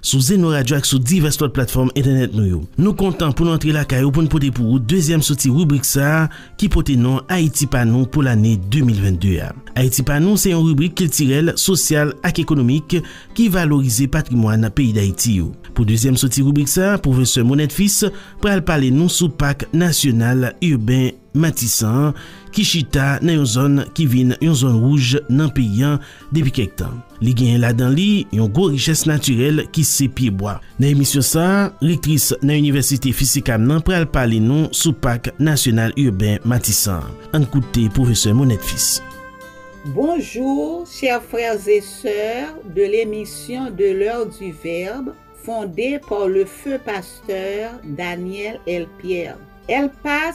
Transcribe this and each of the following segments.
Sou Zeno Radio ak sou divès lòt platfòm entènèt nou yo. Nou kontan pou nou antre lakay ou pou n pote pou ou dezyèm soti ribrik sa a ki pote non Ayiti pa nou pou lane 2022 a. Ayiti pa nou se yon ribrik kiltirèl, sosyal ak ekonomik ki valorize patrimwàn peyi Dayiti yo. Pou dezyèm soti ribrik sa a, pwofesè Monette Fils pral pale nou sou Pak Nasyonal Urbain Matisan an ki chita nan yon zòn ki vin yon zòn wouj nan peyi an Depi kèk tan, li genyen ladan li yon gwo richès natirèl ki se pyebwa. Nan emisyon sa a, rektris nan inivèsite FISICAM nan pral pale nou sou Pak Nasyonal Urbain Matisan an. Ann koute pwofesè Monette Fils. Bonjour chers frères et sœurs de l'émission de l'heure du verbe fondée par le feu pasteur Daniel L. Pierre. El Pas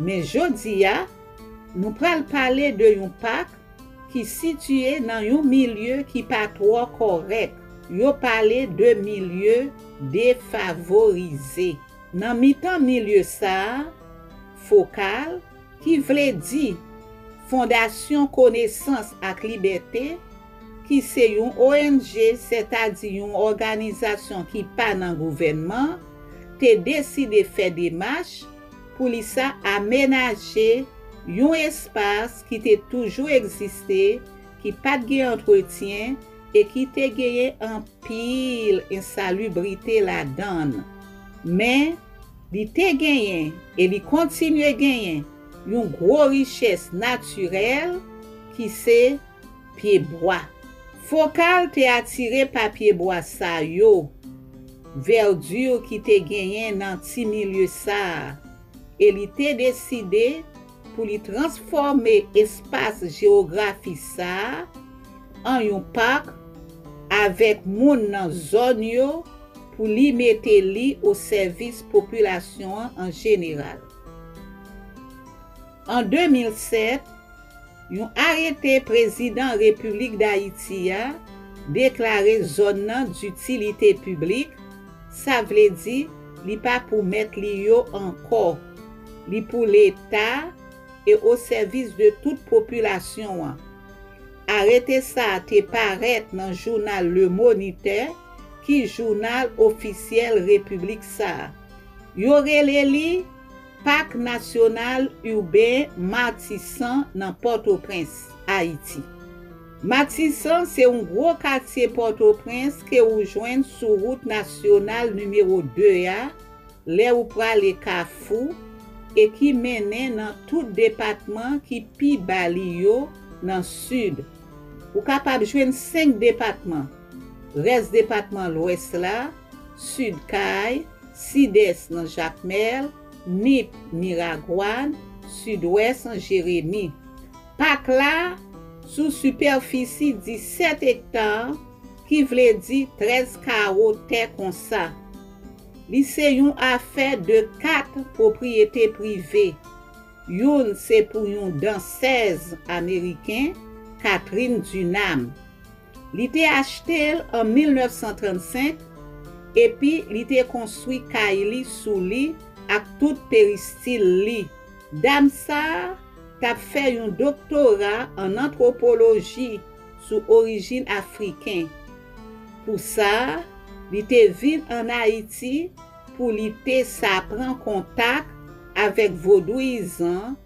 Men jodi a, nou pral pale de yon pak ki sitiye nan yon milye ki pa twò kòrèk, yo pale de milye defavorize. Nan mitan milye sa a, fokal, ki vle di, Fondasyon Konesans ak Libète, ki se yon ong, sètadi yon òganizasyon ki pa nan gouvènman, te deside fè demach, Poulisa amenaje yon espas ki te toujou egziste, ki pa t gen antretyen e ki te genyen anpil ensalubrite ladan l. Men, li te genyen e li kontinye genyen yon gwo richès natirèl ki se. pyebwa. Fokal te atire pa pyebwa sa yo, verdure ki te genyen nan ti milye sa a, e li te deside pou li transfòme espas jewografi sa a an yon park avèk moun nan zòn yo pou li mete li o sèvis popilasyon an an jeneral. An 2007, Yon arete prezidan Repiblik Dayiti a deklare zòn nan ditilite piblik, sa vle di li pa pou mèt li yo ankò, li pou Leta e o sèvis de tout popilasyon an. Arete sa a te parèt nan jounal Le Monitè ki jounal ofisyèl Repiblik sa a. Yo rele li. Pak Nasyonal Urbain Martissant nan Pòtoprens, Ayiti. Martissant se yon gwo katye Pòtoprens ke ou jwenn sou wout nasyonal nimewo 2 a lè ou prale Kafou e ki mennen nan tout depatman ki pi ba li yo nan sid. Ou kapab jwenn 5 depatman, rès depatman Lwès la, Sid Kay, Sidès nan Jakmèl, Nip, Miragwàn, Sidwès an Jeremi. Pak la sou sipèfisi 17 ekta ki vle di 13 kawo tè konsa. Li se yon afè de 4 pwopriyete prive. Youn se pou yon dansèz ameriken, Catherine Dunham. Li te achte l an 1935, epi li te konstwi kay li sou li ak tout peristil li. Dam sa a t ap fè yon doktora ann antwopoloji sou orijin Afriken. Pou sa, li te vin ann Ayiti pou li te sa pran kontak avèk vodouyizan,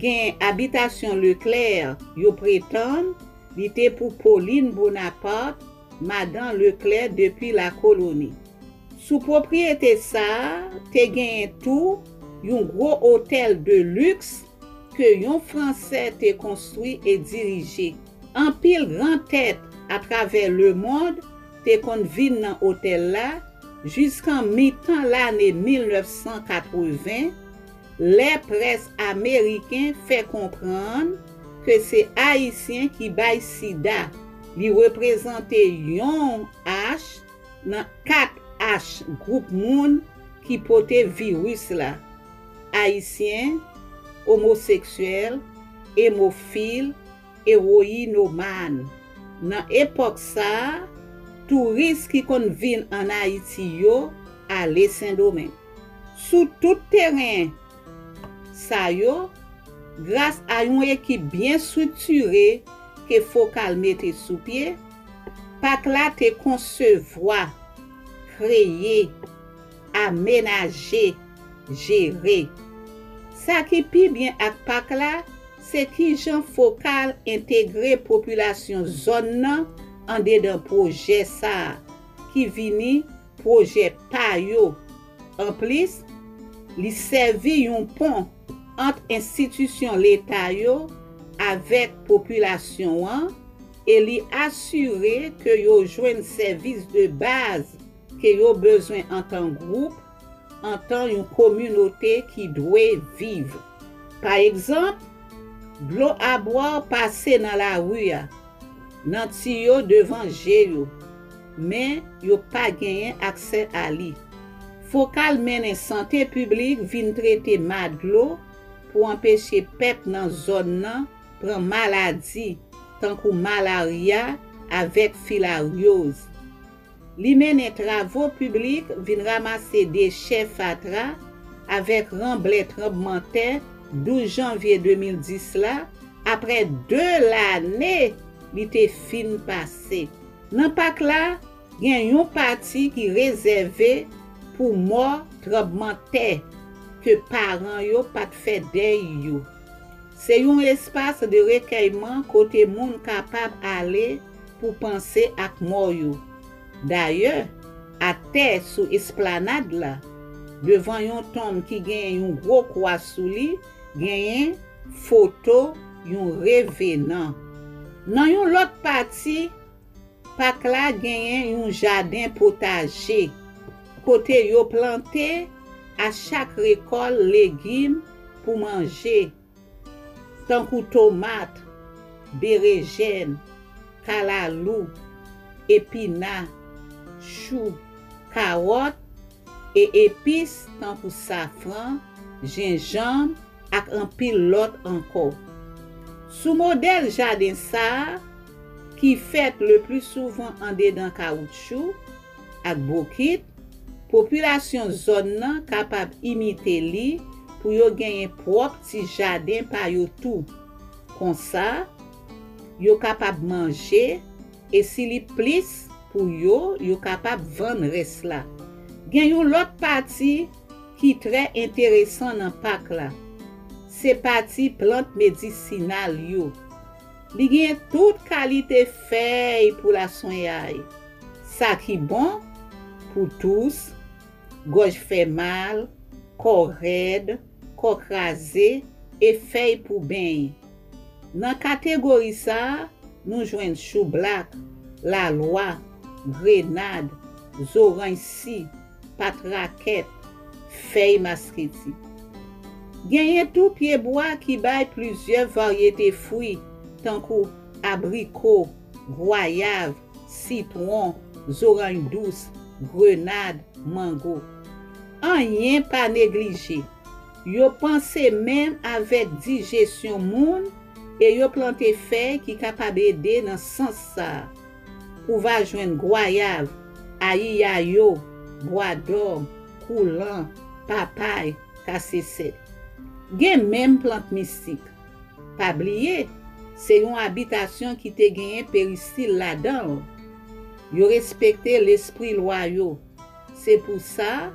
Gen abitasyon Leclerc yo pretann li te pou Pauline Bonaparte, madan Leclerc depi lakoloni. Sou pwopriyete sa a te genyen tou yon gwo otèl de liks ke yon Fransè te konstwi e dirije. Anpil gran tèt atravè lemond te konn vin nan otèl la jiskan mitan lane 1980, Lè près ameriken fè konprann ke se Ayisyen ki bay sida, li reprezante yon H nan 4 H gwoup moun ki pote viris la, Ayisyen, Omoseksyèl, Emofil, Eroinoman Nan epòk sa a, touris ki konn vin ann Ayiti yo ale Sendomeng. Sou tout teren sa yo, gras a yon ekip byen striktire ke Fokal mete sou pye, Pak la te konsevwa, kreye, amenaje, jere. Sa ki pi byen ak Pak la, Se kijan fokal entegre popilasyon zòn nan andedan pwojè sa a ki vini pwojè pa yo. Anplis, li sèvi yon pon ant enstitisyon leta yo avèk popilasyon an e li asire ke yo jwenn sèvis de baz ke yo bezwen antan gwoup, antan yon kominote ki dwe viv. Pa egzanp, dlo abwa pase nan lari a, nan tiyo devan je yo, men yo pa genyen aksè a li. Fokal mennen sante piblik vin trete ma dlo pou anpeche pèp nan zòn nan pran maladi tankou malarya avèk filaryoz. Li mennen travo piblik, vin ramase dechè fatra, avèk ranblè tranbman tè 12 janvye 2010 la, aprè 2 lane li te fin pase. Nan pak la, gen yon pati ki rezève pou mò tranbman tè ke paran yo pa t fè dèy yo. Se yon espas de rekèyman kote moun kapab ale, pou panse ak mò yo. Dayè, atè sou esplanad la, devan yon tonm ki genyen yon gwo kwa sou li, genyen foto yon revenan. Nan yon lòt pati pak la genyen yon jaden potaje, kote yo plante a chak rekòl legim pou manje. Tankou tomat, berejèn, kalalou, epina, chou, kawòt, e epis tankou safran, jenjanm ak anpil lòt ankò. Sou modèl jaden sa a, ki fèt leplisouvan andedan kawoutchou, ak bokit, popilasyon zòn nan kapab imite li pou yo genyen pwòp ti jaden pa yo tou. Konsa, yo kapab manje, e si li plis pou yo, yo kapab vann rès la. Gen yon lòt pati ki trè enteresan nan pak la. Se pati plant medisinal yo. Li genyen tout kalite fèy pou laswenyay, sa ki bon pou tous, gòj fè mal, kò rèd, kò kraze e fèy pou beny. Nan kategori sa a, nou jwenn choublak, lalwa, grenad, zoranj si. pat rakèt, fèy masketi. Genyen tou pyebwa ki bay plizyè varyete fwi tankou abriko, gwayav, sitwon, zoranj dous, grenad, mango. Anyen pa neglije, yo panse menm avèk dijesyon moun e yo plante fèy ki kapab ede nan sans sa a. Ou va jwenn gwayav, ayiyayo, bwadòm, koulan, papay, kasese. Gen menm plant mistik. Pa bliye, se yon abitasyon ki te genyen peristil ladan l. Yo respekte lespri lwa yo. Se pou sa,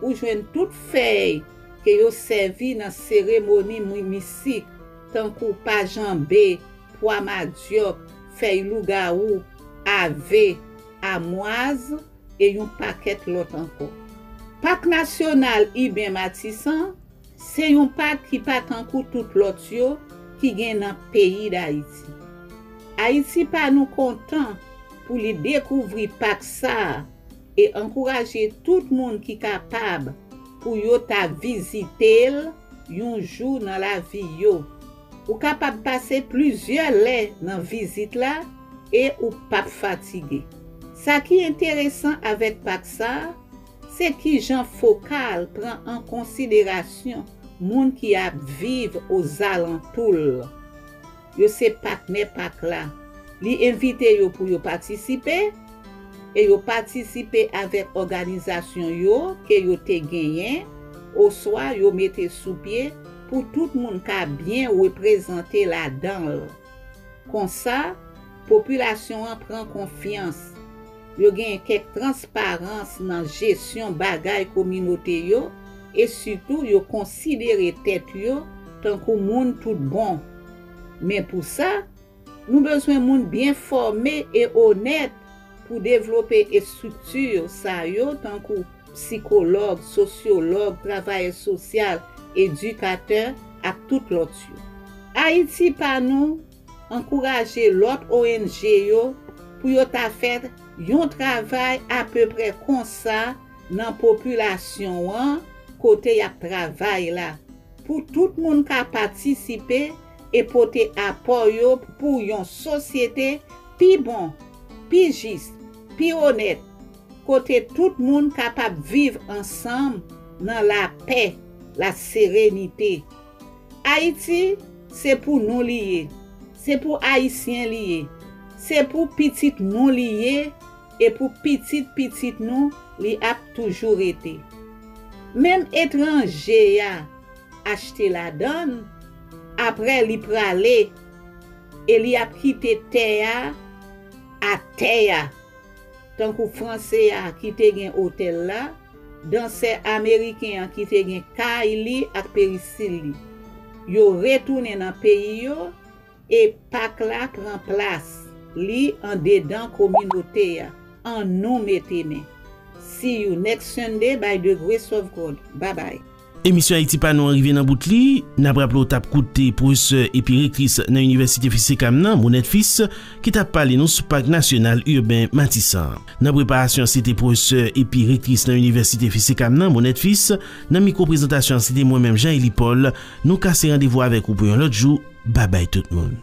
ou jwenn tout fèy ke yo sèvi nan seremoni mistik, tankou pa janbe, pwa madyòk, fèy lougawou, ave, amwaz e yon pakèt lòt ankò. Pak Nasyonal Iben Matisan se yon pak ki pa tankou tout lòt yo ki gen nan peyi Dayiti. Ayiti pa nou kontan pou li dekouvri pak sa a e ankouraje tout moun ki kapab pou yo ta vizite l yon jou nan lavi yo. Ou kapab pase plizyè lè nan vizit la e ou pap fatige. Sa ki enteresan avèk pak sa a, se kijan fokal pran an konsiderasyon moun ki ap viv ozalantou l. Yo se patnè pak la. Li envite yo pou yo patisipe, e yo patisipe avèk òganizasyon yo ke yo te genyen oswa yo mete sou pye, pou tout moun ka byen reprezante ladan l. Konsa, popilasyon an pran konfyans, yo gen kèk transparans nan jesyon bagay kominote yo e sitou yo konsidere tèt yo tankou moun tout bon. Men pou sa, Nou bezwen moun byen fòme e onèt pou devlope estrikti sa yo tankou psikològ, sosyològ, travayè sosyal, edikatè ak tout lòt yo. Ayiti pa nou ankouraje lòt ong yo pou yo ta fè yon travay apeprè konsa nan popilasyon an kote y ap travay la pou tout moun ka patisipe e pote apò yo pou yon sosyete pi bon, pi jis, pi onèt, kote tout moun kapab viv ansanm nan lapè, laserenite. Ayiti, se pou nou li ye, se pou Ayisyen li ye, se pou pitit nou li ye e pou pitit pitit nou li ap toujou rete. Menm etranje a. achte ladan l, apre li prale e li ap kite tè a atè a, tankou Franse a ki te gen otèl la, dansè Ameriken an ki te gen kay li ak perisil li. Yo retounen nan peyi yo E pak la pran plas li andedan kominote a. An nou mete men. See you next Sunday by the grace of God. Bye bye. Emisyon Ayiti Pa Nou an rive nan bout li. N ap raple w t ap koute pwofesè epi rektris nan inivèsite Fils Sécam nan, Monette Fils, ki t ap pale nou sou Pak Nasyonal Urbain Matissan an. Nan preparasyon an se te pwofesè epi rektris nan inivèsite Fils Sécam nan, Monette Fils. Nan mikwo prezantasyon an se te mwen menm Jean Élie Paul. Nou kase randevou avèk ou pou yon lòt jou. Bye bye tout moun.